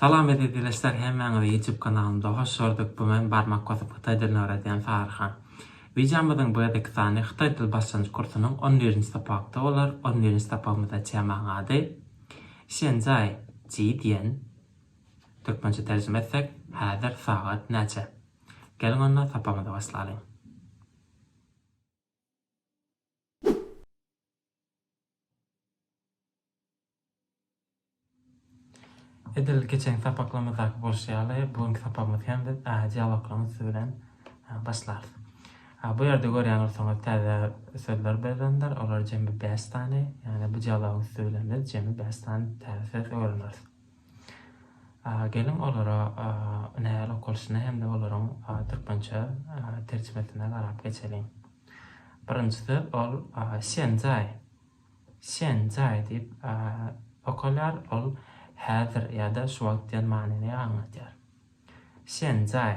Salam eziz ildeşler hemmäňizi YouTube kanalymda hoş gördük bu men barmak basyp hytaý dilini öwredýän Saryhan. Wideomyzyň bu gezeki sany hytaý dil başlanjyk kursunyň on birinji sapakda bolar on birinji sapagymyzda temaň ady Şenjaý ji diýen türkmençe terjime etsek häzir sagat näçe? Geliň onda sapagymyzy başlalyň. Edil geçenki sapaklarymyzdaky bolşy ýaly, bu günki sapagymyzy hem biz dialoglaryň üsti bilen başlarys. Bu ýerde görýän bolsaňyz, täze sözler berlendir. Olar jemi bäş sany. Ýagny bu dialogyň üsti bilen biz jemi bäş sany täze söz öwreneris. Geliň olara nähili okalyşyna hem-de olaryň türkmençe terjimesine garap geçeliň. Birinjisi ol Şenjaý. Şenjaý diýip okalýar. Ol häzir ýa-da şu wagt diýen manyny aňladýar. Şenjaý.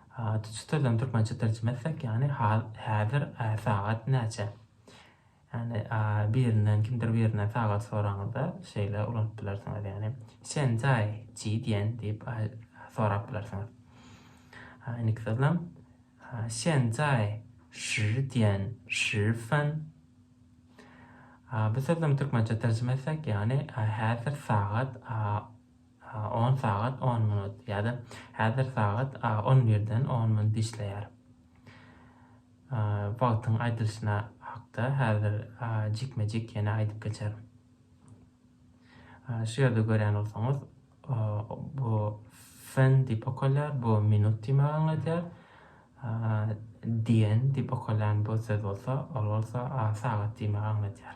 Ady şu sözden türkmençe terjime etsek, ýagny hal, häzir, ä, sagat näçe? Ýagny, a, birinden, kimdir birinden sagat soranyňyzda şeýle ulanyp bilersiňiz, ýagny, Sen zai ji diýen? diýip, a, sorap bilersiňiz. A, indiki sözlem, a, Sen zai şi diýen, şi fen? A, bu sözlemi türkmençe terjime etsek, ýagny, a, häzir sagat, a, On sagat on minut ýa-da häzir sagat on birden on minut işleýär. Wagtyň aýdylyşyna hakda häzir jikme-jik ýene aýdyp geçerin. Şu ýerde görýän bolsaňyz, bu fen diýip okalýar, bu minut diýmegi aňladýar. Dien diýip okalýan bu söz bolsa, ol bolsa sagat diýmegi aňladýar.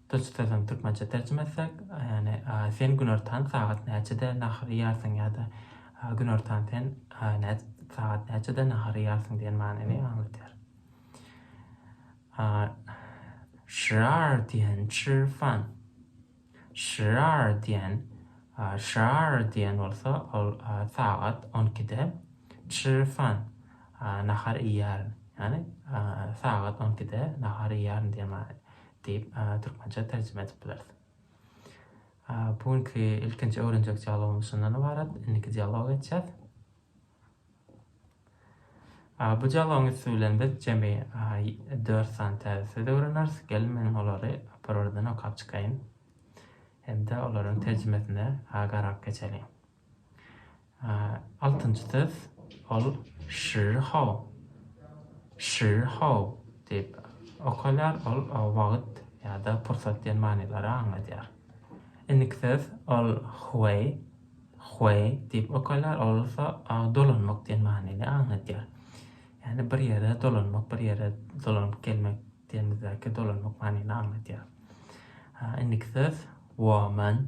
Tuç sözüni türkmençe terjime etsek, ýagny Sen günortan sagat näçede nahar iýersiň ýa-da Günortan sen sagat näçede nahar iýersiň diýen manyny aňladýar. Şrar diýen çrfan. Şrar diýen şrar diýen bolsa ol sagat on ikide çrfan nahar iýýärin. Ýagny sagat on ikide nahar iýýärin diýen manyny. Diýip, türkmençe terjime edip bileris. Bu günki ilkinji öwrenjek dialogymyz şundan ybarat. Indiki dialoga geçýäs. Bu dialogyň üsti bilen biz jemi dört sany täze söz öwreneris. Geliň men olary bir-birden okap çykaýyn hem-de olaryň terjimesine garap geçeliň. Altynjy söz, ol şiho, şiho diýip okalýar, ol wagt ýa-da pursat diýen manylary aňladýar. Indiki söz, ol hueý, hueý diýip okalýar, ol bolsa dolanmak diýen manyny aňladýar. Ýagny bir ýere dolanmak, bir ýere dolanyp gelmek diýenimizdäki dolanmak manyny aňladýar. Indiki söz, woman,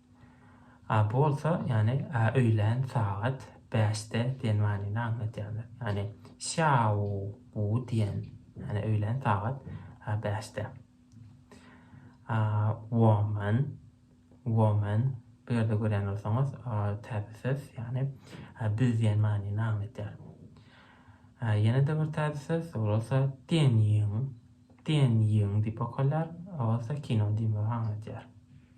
A bu bolsa, ýagny A öýlän sagat bäşde diýen manyny aňladýarlar. Ýagny Şýaou bu diýen, ýagny öýlän sagat A bäşde. A woman, woman bu ýerde görýän bolsaňyz, täze söz, ýagny biz diýen manyny aňladýar. A ýene-de bir täze söz, ol bolsa Dian Ýiň, Dian Ýiň diýip okalýar, ol bolsa kino diýmegi aňladýar.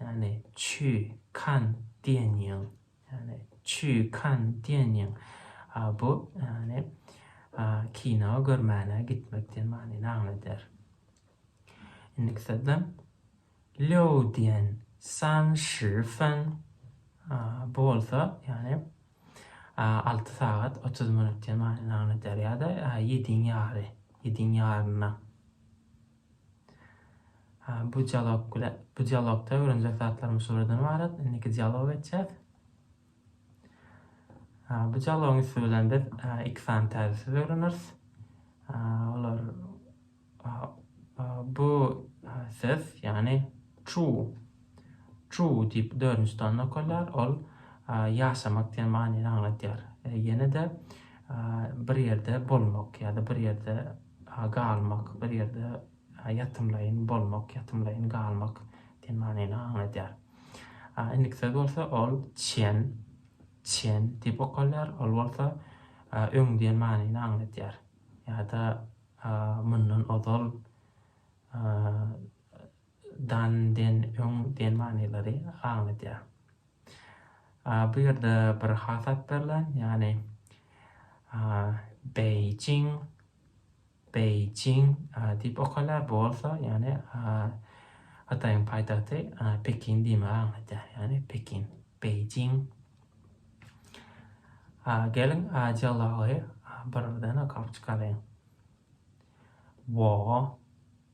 Ýagny, Çü Kan diýen ýyl. Ýagny, Çü Kan diýen ýyň. A bu, ýagny, a, kino görmäne gitmek diýen manyny aňladýar. Indiki sözde Liu diýen san shi fen. A bu bolsa, ýagny, a, alty sagat otuz minut diýen manyny aňladýar ýa-da ýediň ýary, ýediň ýaryna. Bu dialog bile bu dialogda öwrenjek zatlarymyz şulardan ybarat. Indiki dialog etjäs. Bu dialogyň üsti bilen biz iki sany täze söz öwreneris. Olar bu söz, ýagny true Chu diýip dördünji tany nokalýar, ol ýaşamak diýen manyny aňladýar. Ýene-de bir ýerde bolmak ýa-da bir ýerde galmak, bir ýerde ýatymlaýyn bolmak, ýatymlaýyn galmak diýen manyny aňladýar. Indiki söz bolsa ol çen, çen diýip okalýar, ol bolsa öň diýen manyny aňladýar ýa-da mundan ozal. Dan, den, öň, den manylary aňladýar. Bu ýerde bir has at berlen, ýagny Beýjing, Beýjing diýip okalýar. Bu bolsa, ýagny Hytaýyň paýtagty Pekin diýmegi aňladýar. Ýagny Pekin, Beýjing. Geliň, dialogy bir-birden okap çykalyň. Wo.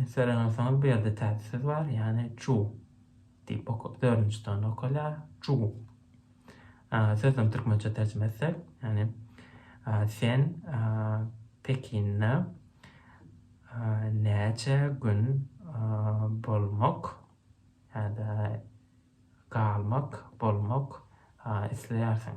Sereňeseňiz bu ýerde täze söz bar, ýagny çu diýip oka, dördünji tanda okalýar. Çu. Sözüniň türkmençe terjime etsek, ýagny sen Pekinde näçe gün bolmak ýa-da galmak, bolmak isleýärsiň?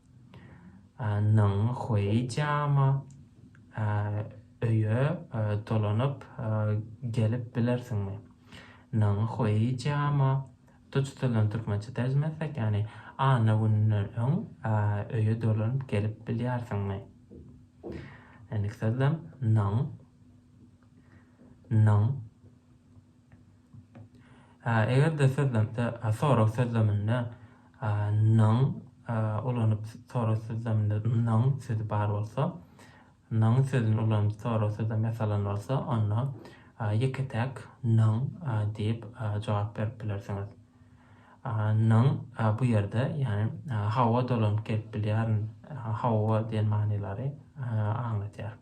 Nyň Hueý Jiama öýe dolanyp gelip bilersiňmi? Nyň Hueý Jiama duç tilen türkmençe terjime etsek, ýagny anna gününden öň öýe dolanyp gelip bilýärsiňmi? Indiki sözlem, Nyň, nyň. Eger-de sözlemde sorag sözleminde nyň ulanyp sorag sözleminde nyň sözi bar bolsa, nyň sözüni ulanyp sorag sözlem ýasalan bolsa, onda ýeke-täk nyň diýip jogap berip bilersiňiz. Nyň bu ýerde, ýagny hawa dolanyp gelip bilýärin, hawa diýen manylary aňladýar.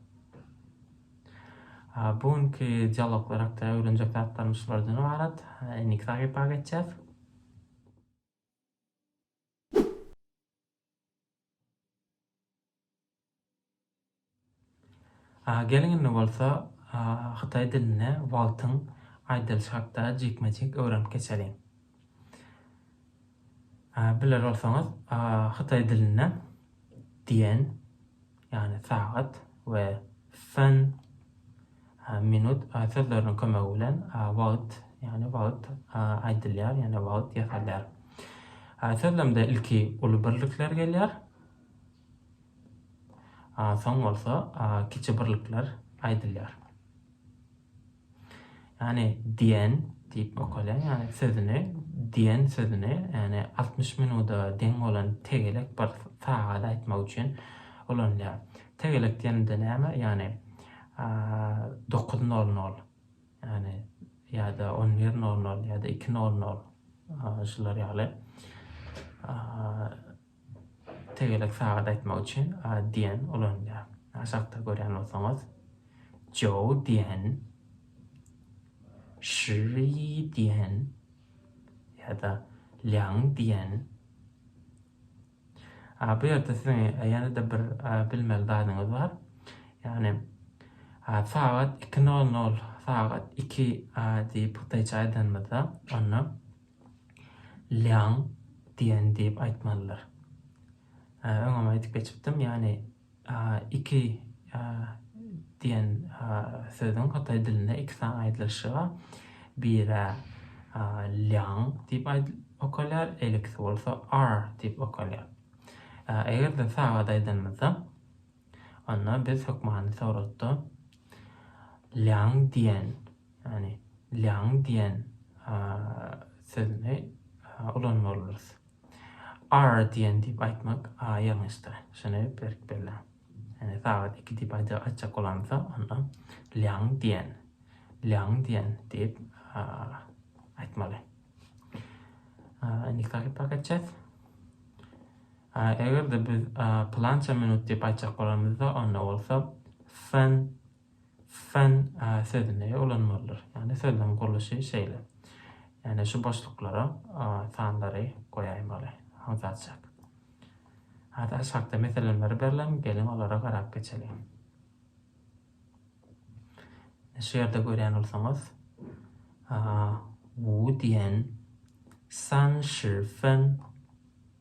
Bu günki dialoglar hakda öwrenjek zatlarymyz şulardan ybarat. Indi kitap ýapyga geçýäs. Geliň indi bolsa hytaý dilinde wagtyň aýdylyşy hakda jikme-jik öwrenip geçeliň. Biler bolsaňyz, hytaý dilinde diýen, ýagny sagat, we sen, minut, sözleriniň kömegi bilen wagt, ýagny wagt, aýdylýar, ýagny wagt ýasalýar. Sözlemde ilki uly birlikler gelýär, soň bolsa kiçi birlikler aýdylýar. Ýagny diýen diýip okaýlar. Ýagny sözüni diýen sözüni, ýagny altmyş minuda deň bolan tegelek bir sagady aýtmak üçin ulanylýar. Tegelek diýenimde näme? Ýagny dokuz nol nol, ýagny ýa-da on bir nol nol, ýa-da iki nol nol şular ýaly. Tegelek sagat aýtmak üçin diýen ulanylýar. Aşakda görýän bolsaňyz, Joe diýen, Şri diýen ýa-da Lýang diýen. Bu ýerde siziň ýene-de bir bilmeli zadyňyz bar. Ýagny sagat iki nol nol, sagat iki diýip hytaýça aýdanymyzda, onda Liang diýen diýip aýtmalydyr. Öňem aýdyp geçipdim, ýagny iki diýen sözüň hytaý dilinde iki sany aýdylyşy bar. Biri Liang diýip okalýar, elikisi bolsa R diýip okalýar. Eger-de sagat aýdanymyzda Onda biz hökmany Tawratda Lýang diýen, ýagny Lýang diýen sözüni ulanmalydyrys. Ar diýen diýip aýtmak ýalňyşdyr. Şuny berk belläň. Ýagny sagat iki diýip aýtjak bolamyzda, onda Lýang diýen, Lýang diýen diýip aýtmaly. Indi kitaby pakatjak. Eger-de biz pylança minut diýip aýtjak bolanymyzda, onda bolsa fen, fen sözüni ulanmalydyrys. Ýagny sözüniň gurluşy şeýle. Ýagny şu boşluklara sanlary goýaýmaly. Aňsatjak. Hada aşakda meselenleri berlen, geliň olara garap geçeliň. Şu ýerde görýän bolsaňyz, Wu diýen san shi fen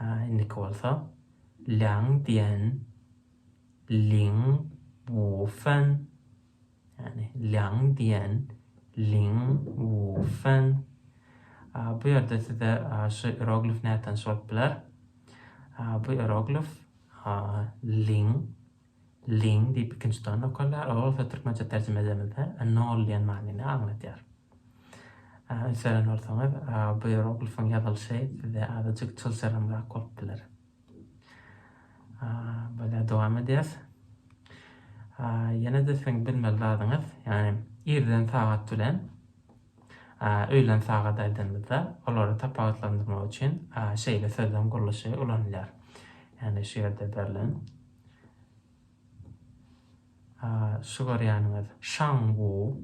Indiki bolsa Liang Dian, Ling Wu Fen, ýagny Liang Dian, Ling Wu Fen. Bu ýerde size şu ieroglif nätanyş bolup biler. Bu ieroglif Ling. Ling diýip ikinji tony okarlar. Ol bolsa türkmençe terjime edemizde nol diýen manyny aňladýar. Üns beren bolsaňyz, bu ieroglifyň ýazylyşy size azajyk çylşyrymrak bolup biler. Böyle dowam edýäs. Ýene-de siziň bilmeli zadyňyz, ýagny irden sagat bilen öýlen sagat aýdanymyzda, olary tapawutlandyrmak üçin şeýle sözleň gurluşy ulanylýar. Ýagny şu ýerde berlen Şu görýäniňiz Şang Wu.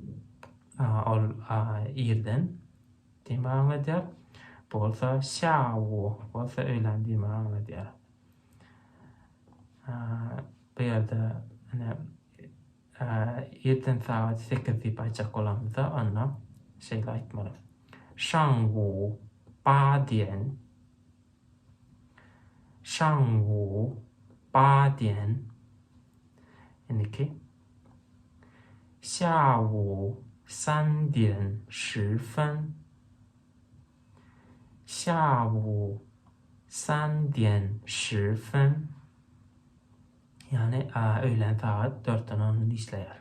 Ol irden diýmegi aňladýar. Bu bolsa Sýa Wu bolsa öýlän diýmegi aňladýar. Bu ýerde ine irden sagat sekiz diýip aýtjak bolamyzda onda şeýle aýtmaly. Şang Wu, Ba diýen. Şangwu ba diýen, indiki Xiaowu san diýen Shi fen, Xiaowu san diýen Shi fen, ýagny öýlän sagat dörtden on işleýär.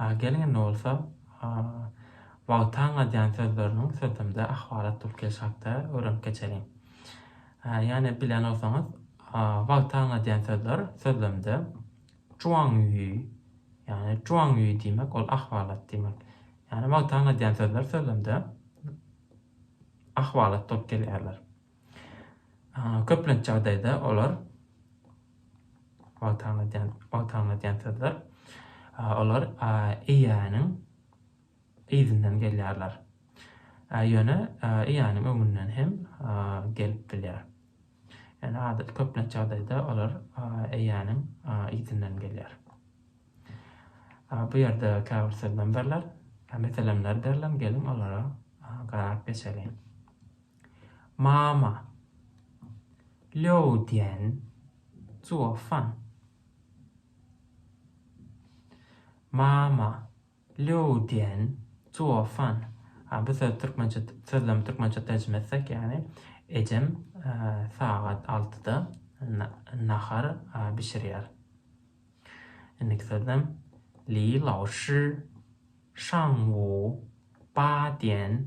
Geliň indi bolsa wagtaň aýdýan sözleriniň sözlemde ahwalat dup gelşi hakda öwrenip geçeliň. Ýane bilýän bolsaňyz, wagtaň aýdýan sözler sözlemde juaňýuý, ýane juaňýuý diýmek ol ahwalat diýmek. Ýane wagtaň aýdýan sözler sözlemde ahwalat dup gelýärler. Köplenç ýagdaýda olar wagtalňa diýen sözler olar eýäniň yzyndan gelýärler. Ýöne eýäniň öňünden hem gelip bilýär. Ýöne adatda köplenç ýagdaýda olar eýäniň yzyndan gelýär. Bu ýerde käbir sözlemlerler, meselemler berlen geliň olara garap geçeliň. Mama. Lýou diýen zuofan. Mama. Lýou diýen zuofan. Ha bu söz türkmençe sözlem türkmençe terjime etsek ýagny ejem sagat altyda nahar bişirýär. Indiki sözlem Li Lao Shi Shang Wu Ba diýen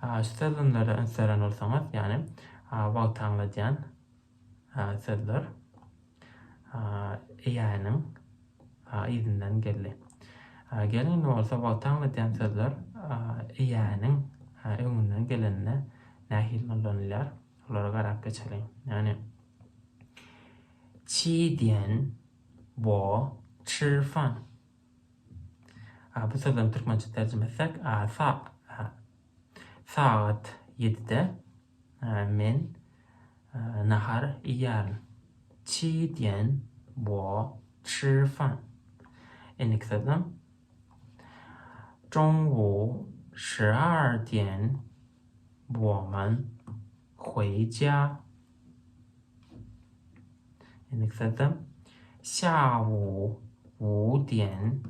Şu sözlemlere üns beren bolsaňyz, ýagny wagty aňladýan sözler Eýäniň yzyndan geldi. Geliň indi bolsa wagty aňladýan sözler Eýäniň öňünden gelende nähili ullanylýar, olara garap geçeliň. Ýagny Çi diýen bo çyrfan. A bu sözleriň türkmençe terjime etsek, a sa a sagat ýedide men nahar iýýärin. Çi diýen wo çi fan. Indiki sözlem. Jong wo şi ar diýen wo man. Huejia. Endiki sözde Xiaowu wu diýen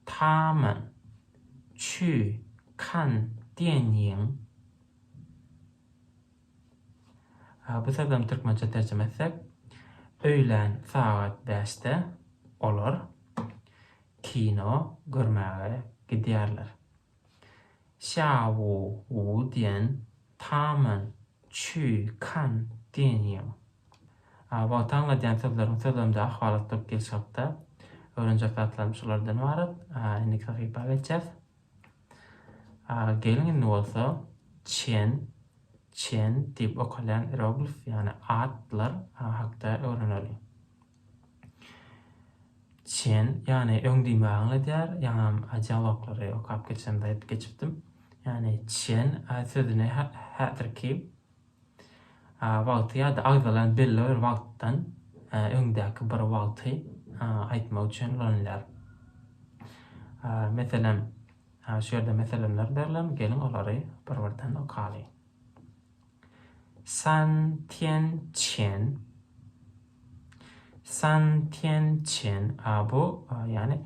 taman Çü kan diýen ýiň. Bu sözlem türkmençe terjime etsek, öýlän sagat bäşde olar kino görmäge gidýärler. Xiao Wu diýen Taman, Çü, Kan diýen ýyl. A wagt aňladýan sözleriň sözlemde ahwalat bolup gelşi hakda öwrenjek zatlarym şulardan ybarat. A indiki sahypa geçýäs. A geliň indi bolsa Çen, Çen, diýip okalýan ieroglif, ýagny atlar hakda öwreneliň. Çen, ýagny öň diýme aňladýar, ýaňam dialoglary okap geçemde aýdyp geçipdim. Ýagny çen sözüni häzirki wagty ýa-da agzalan belli bir wagtdan öňdäki bir wagty aýtmak üçin ulanylýar. Meselem, şu ýerde meselemler berlen, geliň olary bir-birden okalyň. San Tian Çen, San Tian Çen, a bu, ýagny,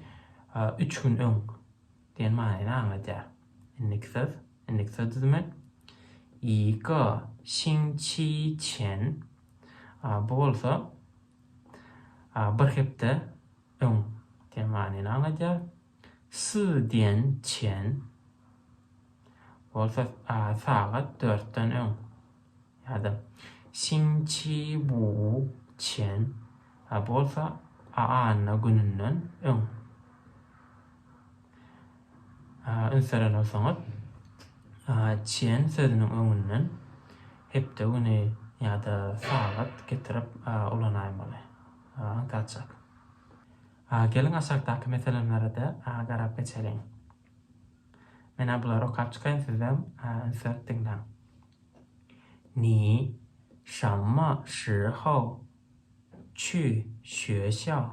üç gün öň diýen manyny aňladýar. Indiki söz, indiki söz düzümi, Yi ge xin qi qian, a bu bolsa, bir hepde öň diýen manyny aňladýar. S diýen çen bolsa sagat dörtden öň ýa-da Sin Çi Bu çen bolsa anna gününden öň. Üns beren bolsaňyz, çen sözüniň öňünden hepde güni ýa-da sagat getirip ulanaýmaly. Aňtaçak. A geliň aşakdaky meselemlere-de garap geçeliň. Men-ä bulary okap çykaýyn sizem üns berip diňläň. Ni, şamma, şihou, çü, şüeşiao.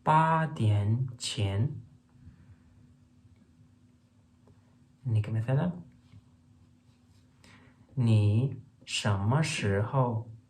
Ba diýen çen. Indiki mesele. Ni, şamma, şihou,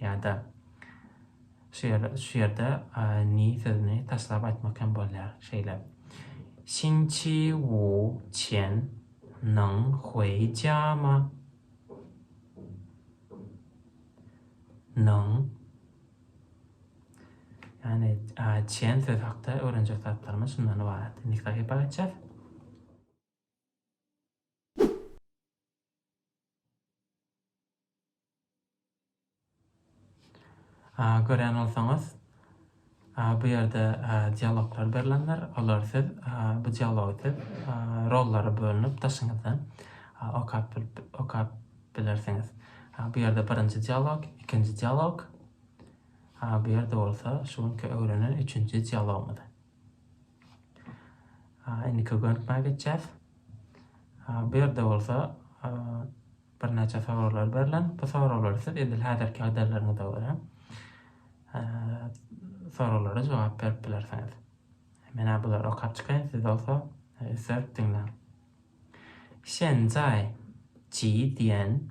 Ýa-da şu ýer, şu ýerde ni sözüni taşlap aýtmak hem bolýar. Şeýle. Xinqi wu qian neng hui jia ma? Neng. Ýagny, qian sözi hakda öwrenjek zatlarymyz şundan ybarat. Indiki sahypa geçýäs. Görýän bolsaňyz, bu ýerde dialoglar berlendir. Olary siz, bu dialogy siz rollara bölünip daşyňyzdan okap bilip, okap bilersiňiz. Bu ýerde birinji dialog, ikinji dialog, bu ýerde bolsa şu günki öwrenen üçünji dialogymyz. Indi köpeltmä geçýäs. Bu ýerde bolsa birnäçe soraglar berlen. Bu soraglary siz edil häzirki ýagdaýlaryňyza görä soraglara jogap berip bilersiňiz. Menä bulary okap çykaýyn, siz bolsa üstsärik diňläň. 现在几点？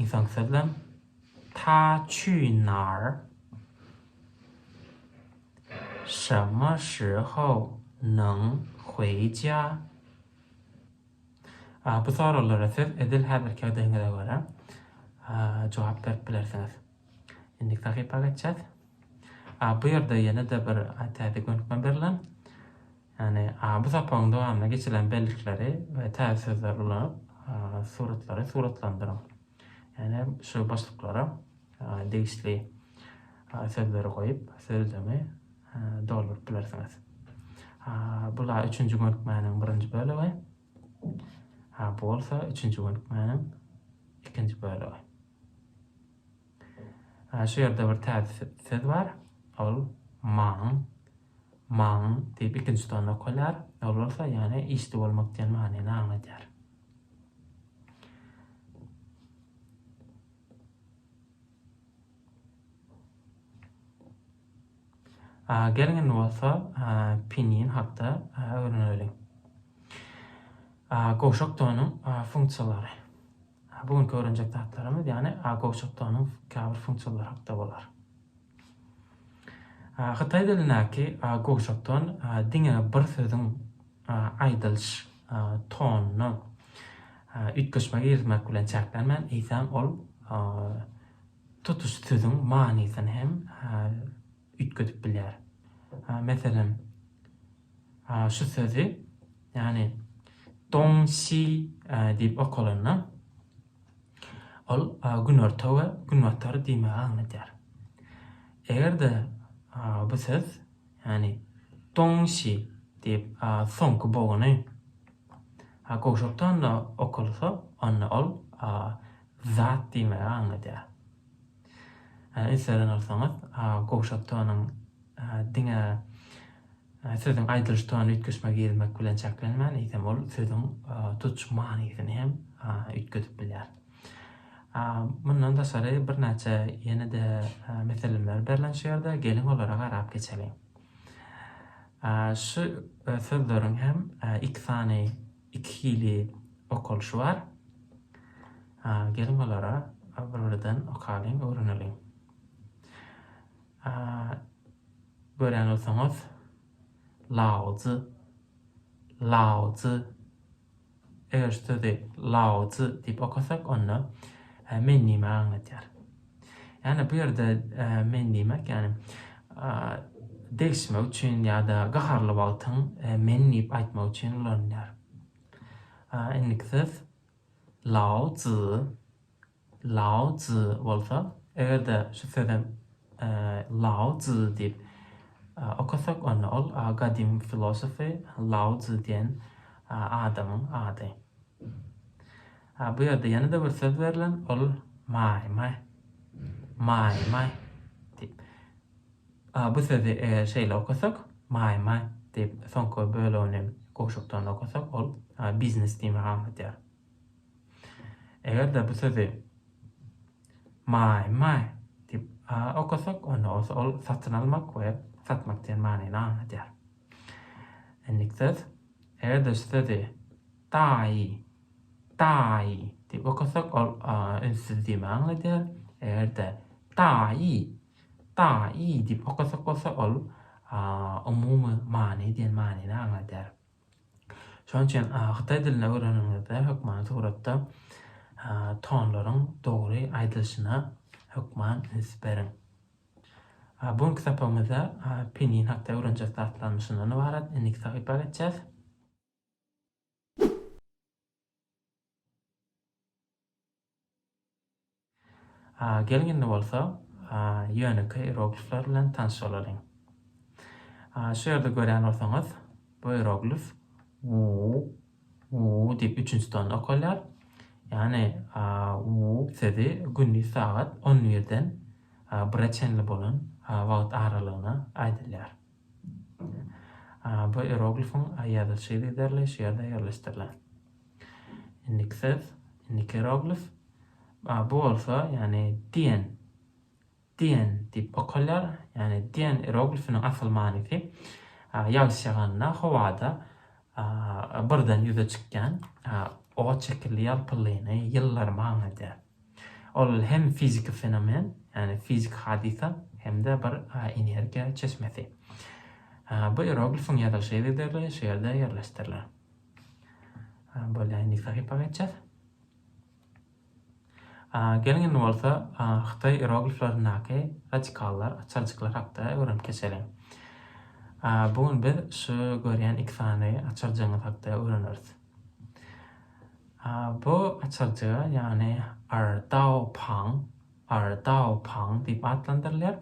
Ynsan sözlem Ta çü nar Şe me shi hou Nen hui jia Bu soraglara siz edil häzirki ýagdaýyňyza görä jogap berip bilersiňiz. Indiki sahypa geçýäs. Bu ýerde ýene-de bir täze gönükme berlen. Ýagny, bu sapagyň dowamynda geçirilen bellikleri we täze sözleri ulanyp, suratlary suratlandyryň. Ýagny, şu boşluklara degişli sözleri goýup, sözlemi dolduryp bilersiňiz. Bula üçünji gönükmäniň birinji bölegi. Bu bolsa üçünji gönükmäniň ikinji bölegi. Şu ýerde bir täze söz bar. Ol maň. Maň diýip ikinji tony okalýar. Ol bolsa ýane işdi bolmak diýen manyny aňladýar. Geliň indi bolsa pinin hakda öwreneliň. Gowşak tonuň funksiýalary. Bu günki öwrenjek zatlarymyz ýane gowşak tonuň käbir funksiýalary hakda bolar. Hytaý dilindäki gowşakdan diňe bir sözüň aýdylyş tonuny üýtgeşme girizmek bilen çäklenmän, eýsem, ol tutuş sözüň manysyny hem üýtgedip bilýär. Meselem, şu sözi, ýagny dong-si diýip okalanda. Ol günorta we günbatar diýmegi aňladýar. Eger-de bu söz, ýagny Dongsi diýip soňky bogany gowşak tonda okalsa, onda ol zat diýmegi aňladýar. Eserden alsaňyz, gowşak tonuň diňe sözüň aýdylyş tonyny üýtgetme girizmek bilen çäklenmän, eýsem, ol sözüň tutuş manysyny hem üýtgedip bilýär. Mundan daşary birnäçe ýene-de meseleler berlen şu ýerde, geliň olara garap geçeliň. Şu sözleriň hem iki sany Iki hili okalyşy bar. A, geliň olara bir-birden okalyň, öwreneliň. A, görýän bolsaňyz, laozi, laozi. Eger şu sözi laozi diýip okasak, onda men näme aňladýar? Ýani bu ýerde men diýmek ýani degişmek üçin ýa-da gaharly wagtyň men diýip aýtmak üçin ulanylýar. Indiki söz Lao Zi. Lao Zi bolsa, eger-de şu sözem Lao Zi diýip okasak, onda ol gadymy filosofy Lao Zi diýen adamyň ady. Ha bu ýerde ýene-de bir söz berlen, ol maý, maý. Maý, maý diýip. A bu sözi eger şeýle okasak, maý, maý diýip, soňky bölegini gowşakdan okasak, ol biznes diýmegi aňladýar. Eger-de bu sözi maý, maý diýip okasak, onda bolsa ol satyn almak we satmak diýen manyny aňladýar. Endiki söz, eger-de şu sözi daýy Daýy! diýip okasak, ol ünsüz diýme aňladýar. Eger-de Daýy! Daýy! diýip okasak bolsa, ol umumy many diýen manyny aňladýar. Şonuň üçin hytaý dilini öwreniňizde hökmany suratda tonlaryň dogry aýdylyşyna hökman üns beriň. Bu günki sapagymyzda pinyin hakda öwrenjek zatlarymyz şundan ybarat. Indiki sahypa geçýäs. Geliň indi bolsa ýönekeý ieroglifler bilen tanyş bolalyň. Şu ýerde görýän bolsaňyz, bu ieroglif wu, wu diýip üçünji tonda okalýar. Ýagny wu sözi gündiz sagat on birden bire çenli bolan wagt aralygyna aýdylýar. Bu ieroglifiň ýazylyşy yzerly şu ýerde ýerleşdirilen. Indiki söz, indiki ieroglif. Bu bolsa, ýagny diýen, diýen diýip okalýar. Ýagny diýen ieroglifiniň asyl manysy ýagyş ýaganda howada birden ýüze çykýan owaç şekilli ýalpyllyny, ýyllary manyny edýär. Ol hem fiziki fenomen, ýagny fiziki hadysa hem-de bir energiýa çeşmesi. Bu ieroglifiň ýazylyş ýerleri şu ýerde ýerleşdirilen. Bolýar, indiki sahypa geçýäs. Geliň indi bolsa hytaý ierogliflerindäki radikallar, açarjyklar hakda öwrenip geçeliň. Bu gün biz şu görýän iki sany açarjygyňyz hakda öwreneris. Bu açyljy, ýagny Erdao Pang, Erdao Pang diýip atlandyrylýar,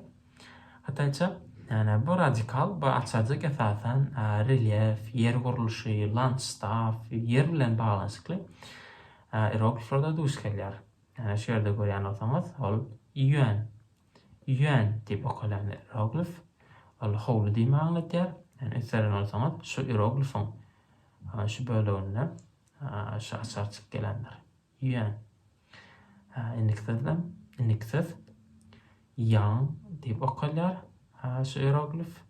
hytaýça. Ýagny bu radikal, bu açyljy esasan relýef, ýer gurluşy, landştaf, ýer bilen baglanyşykly ierogliflerde duş gelýär. Ýagny şu ýerde görýän bolsaňyz, ol Ýuan, Ýuan diýip okalýan ieroglif, ol howly diýmegi aňladýar. Ýagny üns beren bolsaňyz, şu ieroglifiň şu böleginde Hä, şu açar çyk gelendir. Ýüen. Hä, indiki sözlem, indiki söz Ýaň diýip okalýar. Hä, şu ieroglif.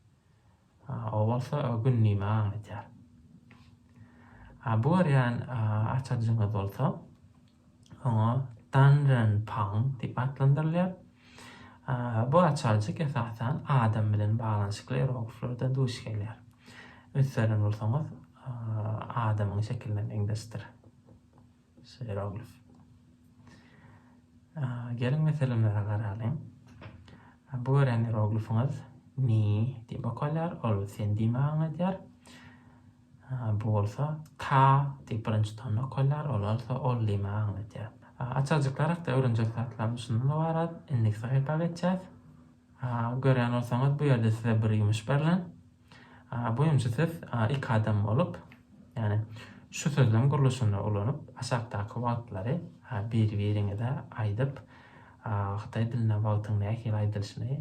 Hä, o bolsa gün nime aňladýar. Hä, bu görýän açarjyňyz bolsa, Oňa Danren Pang diýip atlandyrylýar. Bu açarjyk esasan adam bilen baglanyşykly erogliflerde duş gelýär. Ünseren bolsaňyz, adamyň şekiline meňzeşdir şu eroglif. Geliň meselemlere garalyň. Bu gören eroglifiňiz Ni diýip okalýar, ol Sen diýme aňladýar. Bu bolsa ta diýip birinji tony okalýar, ol bolsa ol diýmegi aňladýar. Açarjyklar hakda öwrenjek zatlarymyz şundan ybarat. Indiki sahypa geçýäs. Görýän bolsaňyz bu ýerde size bir ýumuş berlen. Bu ýumşy siz iki adam bolup, ýagny şu sözlem gurluşyny ulanyp aşakdaky wagtlary bir-biriňize aýdyp, hytaý dilinde wagtyň nähili aýdylyşyny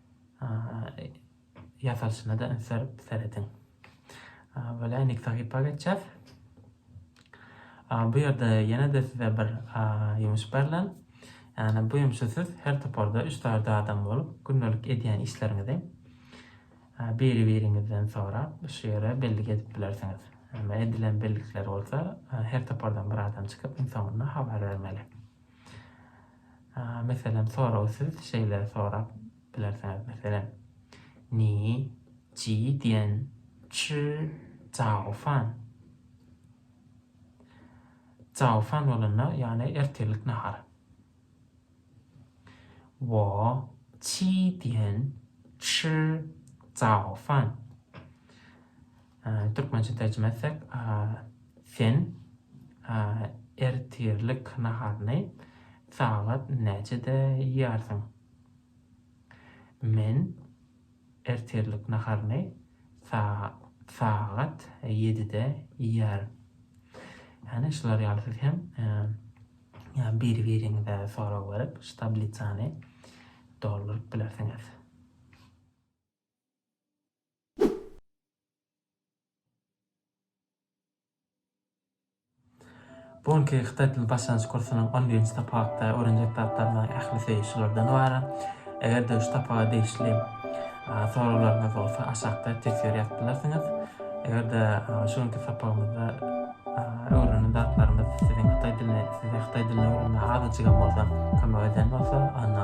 ýasalyşyna-da üns berip serediň. Böle indiki sahypa geçýäs. Bu ýerde ýene-de size bir ýumuş berlen. Ýani bu ýumşy siz her toparda 3 taýda adam bolup, gündelik edýän işleriňizi biri-biriňizden sorap, şu ýere bellik edip bilersiňiz. Edilen bellikler bolsa her topardan bir adam çykyp, iň soňunda habar bermeli. Meselem, soragy siz şeýle sorap bilersiňiz, meselem, Ni ji dian chi cao fan? Cao fan bolanda, ýagny ertirlik nahar. Wo qi dian chi cao fan? Türkmençe terjime etsek, Sen ertirlik naharyny sagat näçede iýýärsiň? Men ertirlik naharyny sagat ýedide iýýärin. Ýagny şular ýaly siz hem biri-biriňize sorag berip, şu tablisany dolduryp bilersiňiz. Bu günki hytaý dili başlangyç kursunyň on birinji tapakda öwrenjek zatlarynyň ählisi şulardan ybarat. Eger-de şu tapaga degişli soraglaryňyz bolsa aşakda teswir ýazyp bilersiňiz. Eger-de şu günki sapagymyzda öwrenen zatlarymyz siziň hytaý dilini size hytaý dilini öwrenmäge azajygam bolsa kömek eden bolsa, onda